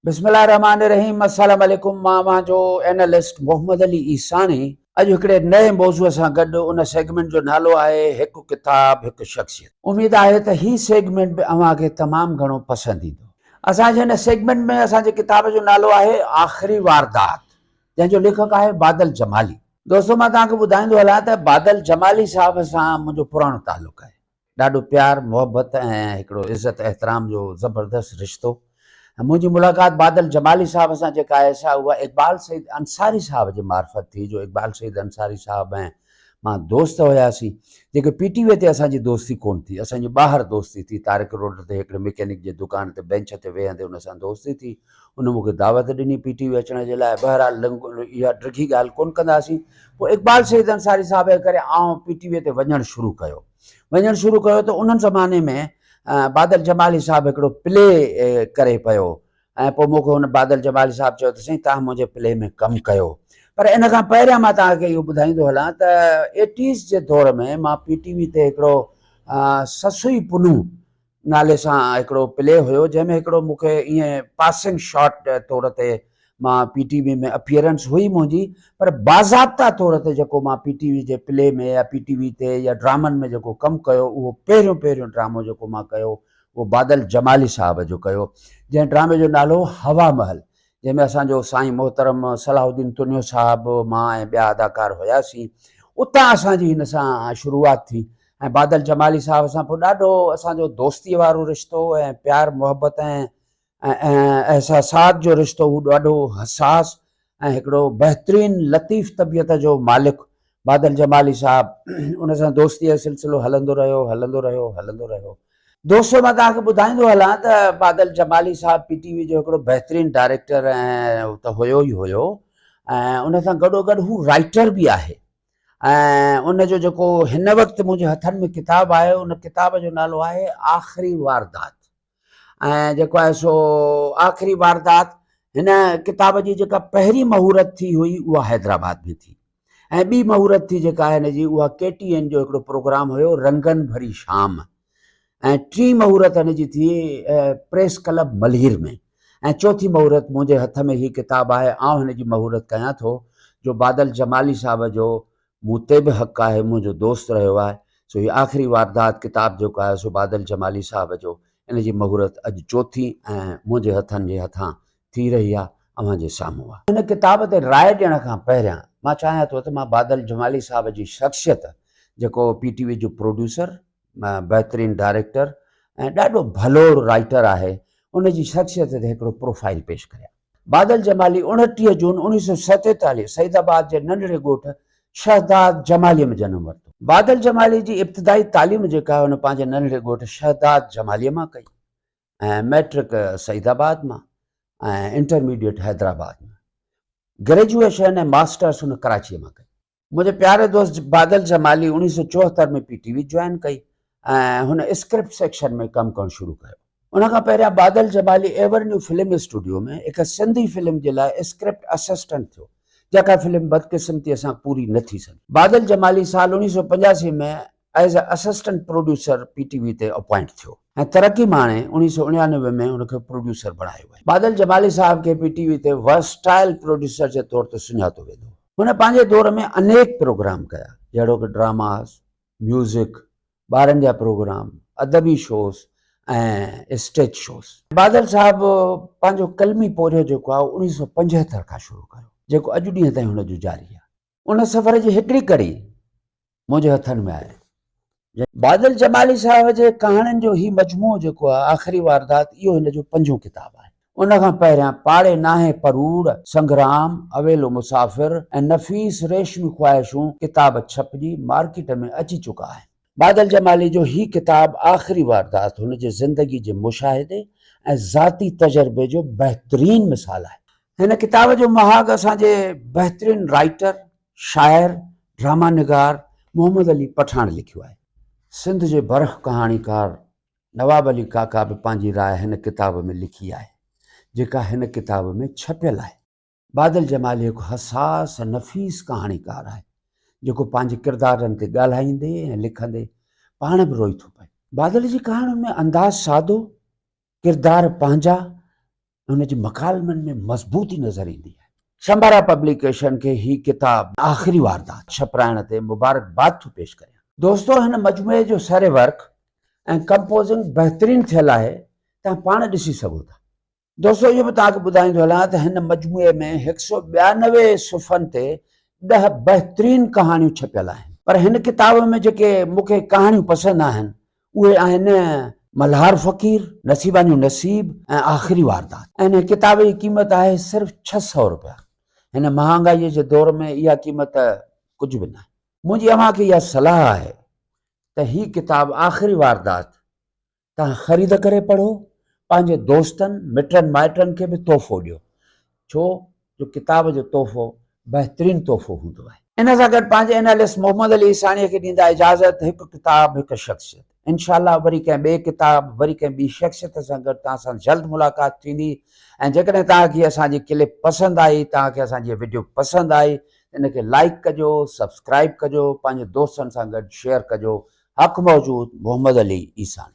بسم الله الرحمٰن الرحيم السلام عليڪم مان اوهان جو اينالسٽ محمد علي عيساڻي اڄ هڪڙي نئين موضوع سان گڏ ان سيگمينٽ جو نالو آهي هڪ ڪتاب هڪ شخصيت اميد آهي ته هي سيگمينٽ به اوهان کي تمام گهڻو پسند ايندو اسان جي هن سيگمينٽ ۾ اسان جي ڪتاب جو نالو آهي آخري واردات جنهن جو ليکڪ آهي بادل جمالي دوستو مان توهان کي ٻڌائيندو هلان ته بادل جمالي صاحب سان منهنجو پراڻو تعلق آهي ڏاڍو پيار محبت ۽ هڪڙو عزت احترام جو زبردست رشتو ۽ منهنجي ملاقات بادل جمالي صاحب سان جيڪا آهي سا اها اقبال سعيد انصاري صاحب جي معرفت ٿي جو اقبال سعيد انصاري صاحب ۽ مان دوست هياسين جيڪي پي ٽي وي تي اسان جي دوستي ڪونه ٿي اسان جي ٻاهر دوستي ٿي طارق روڊ تي هڪڙي مڪينڪ جي دڪان تي بينچ تي ويهندي ان سان دوستي ٿي ان مون کي دعوت ڏني پي ٽي وي اچڻ جي لاء، بهرحال اها ڊگهي ڳالهه ڪونه ڪنداسين. پوء اقبال سيد انصاري صاحب جي ڪري آئون پي ٽي وي تي وڃڻ شروع ڪيو. وڃڻ شروع ڪيو ته ان زماني ۾ بادل جمالي صاحب هڪڙو پلي ڪري پيو ۽ پوء مون کي هن بادل جمالي صاحب چيو ته سائين توهان منهنجي پلي ۾ ڪم ڪيو. پر ان کان پهريان مان توهان کي اهو ٻڌائيندو هلان ته ايٽيز جي دور ۾ مان پي ٽي وي تي هڪڙو سسئي پنهون نالي سان هڪڙو پلي هيو جنهن ۾ هڪڙو مون کي ائين پاسنگ شاٽ طور تي مان پي ٽي وي ۾ اپيئرنس هئي منهنجي پر باضابطا طور تي جيڪو مان پي ٽي وي جي پلي ۾ يا پي ٽي وي تي يا ڊرامن ۾ جيڪو ڪم ڪيو اهو پهريون پهريون ڊرامو جيڪو مان ڪيو اهو بادل جمالي صاحب جو ڪيو جنهن ڊرامي جو نالو هو هوا محل جنهن ۾ اسان جو سائين محترم صلاح الدين تنيو صاحب، مان ۽ ٻيا اداڪار هياسين. اتان اسان جي هن سان شروعات ٿي ۽ بادل جمالي صاحب سان پوء ڏاڍو اسان جو دوستيء وارو رشتو ۽ پيار محبت ۽ احساسات جو رشتو هو ڏاڍو حساس ۽ هڪڙو بهترين لطيف طبيعت جو مالڪ بادل جمالي صاحب ان سان دوستيء جو سلسلو هلندو رهيو، هلندو رهيو، هلندو رهيو. دوستو مان توهان کي ٻڌائيندو هلان ته بادل جمالي صاحب پي ٽي وي جو هڪڙو بهترين ڊائريڪٽر ته هيو ئي هيو ۽ ان سان گڏو گڏ هو رائيٽر به آهي ۽ ان جو جيڪو هن وقت منهنجي هٿن ۾ ڪتاب آهي ان ڪتاب جو نالو آهي آخري واردات. ۽ جيڪو آهي سو آخري واردات هن ڪتاب جي جيڪا پهرين مهورت ٿي هئي اها حيدرآباد ۾ ٿي ۽ ٻي مهورت ٿي جيڪا آهي هن جي اها ڪي ٽي اين جو هڪڙو پروگرام هيو رنگن ڀري شام ۽ ٽي مهورت هن جي ٿي پريس ڪلب ملهير ۾ ۽ چوٿي مهورت منهنجي هٿ ۾ هي ڪتاب آهي آئون هن جي مهورت ڪيان ٿو جو بادل جمالي صاحب جو مون تي به حق آهي، منهنجو دوست رهيو آهي، سو هي آخري واردات ڪتاب جيڪو آهي سو بادل جمالي صاحب جو، ان جي مهورت اڄ چوٿين ۽ منهنجي هٿن جي هٿان ٿي رهي آهي، اوهان جي سامهون آهي. هن ڪتاب تي راء ڏيڻ کان پهريان مان چاهيان ٿو ته مان بادل جمالي صاحب جي شخصيت جيڪو پي ٽي وي جو پروڊيوسر بهترين ڊائريڪٽر ۽ ڏاڍو ڀلو رائيٽر آهي ان جي شخصيت تي هڪڙو پروفائيل پيش ڪريان. بادل جمالي اڻٽيهه جون اڻويهه سئو سيتيتاليهه سعيد آباد جي ننڍڙي ڳوٺ شهداد جمالي ۾ جنم ورتو. بادل جمالي جي ابتدائي تعليم جيڪا آهي هن پنهنجي ننڍڙي ڳوٺ شهداد جمالي مان ڪئي ۽ مئٽرڪ سعيد آباد مان ۽ انٽرميڊيئٽ حيدرآباد مان. گريجوئيشن ۽ ماسٽرس هن ڪراچي مان ڪئي. منهنجي پياري دوست بادل جمالي اوڻيهه سو چوهتر ۾ پي ٽي وي جوائن ڪئي ۽ هن اسڪرپٽ سيڪشن ۾ ڪم ڪرڻ شروع ڪيو. ان کان پهريان Badal Jamali Evernew film studio ۾ هڪ سنڌي فلم جي لاء اسڪرپٽ اسسٽنٽ ٿيو، جيڪا فلم بدقسمتيء سان پوري نه ٿي سگهي. بادل جمالي سال اوڻيهه سو پنجاسي ۾ as a assistant producer P T V تي اپوائنٽ ٿيو ۽ ترقي ماڻي اڻيهه سؤ اڻيانوي ۾ هن کي پروڊيوسر بڻايو ويو. بادل جمالي صاحب کي پي ٽي وي تي ورسٽائل پروڊيوسر جي طور تي سڃاتو ويندو هو. هن پنهنجي دور ۾ انيڪ پروگرام ڪيا جهڙوڪ ڊراماز، ميوزڪ، ٻارن جا پروگرام، ادبي شوز ۽ اسٽيج شوز. بادل صاحب پنهنجو قلمي پورهيو جيڪو آهي اهو اڻيهه سؤ پنجهتر کان شروع ڪيو جيڪو اڄ ڏينهن تائين هن جو جاري آهي. ان سفر جي هڪڙي ڪڙي منهنجي هٿن ۾ آهي. بادل جمالي صاحب جي ڪهاڻين جو هي مجموعو جيڪو آهي آخري واردات اهو هن جو پنجون ڪتاب آهي. ان کان پهريان پاڙي ناهي پروڙ، سنگرام، اويلو مسافر ۽ نفيس ريشمي خواهشون ڪتاب ڇپجي مارڪيٽ ۾ اچي چڪا آهن. بادل جمالي جو هي ڪتاب آخري واردات هن جي زندگي جي مشاهدي ۽ ذاتي تجربي جو بهترين مثال آهي. هن ڪتاب جو مهاڳ اسان جي بهترين رائيٽر، شاعر، ڊراما نگار محمد علي پٺاڻ لکيو آهي. سنڌ جي برک ڪهاڻيڪار نواب علي ڪاڪا به پنهنجي راء هن ڪتاب ۾ لکي آهي، جيڪا هن ڪتاب ۾ ڇپيل آهي. بادل جمالي هڪ حساس ۽ نفيس ڪهاڻيڪار آهي، جيڪو پنهنجي ڪردارن تي ڳالهائيندي ۽ لکندي پاڻ به روئي ٿو پئي. بادل جي ڪهاڻين ۾ انداز سادو، ڪردار پنهنجا ۽ هن جي مڪالمن ۾ مضبوطي نظر ايندي آهي. شمبرا پبليڪيشن کي هي ڪتاب آخري واردات ڇپرائڻ تي مبارڪباد ٿو پيش ڪريان. دوستو هن مجموعي جو سري ورڪ ۽ ڪمپوزنگ بهترين ٿيل آهي، توهان پاڻ ڏسي سگهو ٿا. دوستو اهو به توهان کي ٻڌائيندو هلان ته هن مجموعي ۾ هڪ سؤ ٻيانوي صفحن تي ڏهه بهترين ڪهاڻيون ڇپيل آهن. پر هن ڪتاب ۾ جيڪي مون کي ڪهاڻيون پسند آهن اهي آهن ملهار فقير، نصيبان جو نصيب ۽ آخري واردات ۽ هن ڪتاب جي قيمت آهي صرف ڇهه سؤ رپيا. هن مهانگائيء جي دور ۾ اها قيمت ڪجهه به ناهي. منهنجي اوهان کي اها صلاح آهي ته هي ڪتاب آخري واردات توهان خريد ڪري پڙهو، پنهنجي دوستن، مٽن مائٽن کي به تحفو ڏيو، ڇو جو ڪتاب جو تحفو بهترين تحفو هوندو آهي. ان سان گڏ پنهنجي اينالسٽ محمد علي عيساڻيء کي ڏيندا اجازت، هڪ ڪتاب، هڪ شخصيت. انشاء الله وري ڪنهن ٻئي ڪتاب، وري ڪنهن ٻي شخصيت سان گڏ توهان سان جلد ملاقات ٿيندي ۽ جيڪڏهن توهان کي اسان جي ڪلپ پسند آئي، توهان کي اسان جي وڊيو پسند آئي ته ان کي لائيڪ ڪجو، سبسڪرائيب ڪجو، پنهنجي دوستن سان گڏ شيئر ڪجو. حق موجود محمد علي عيساڻي.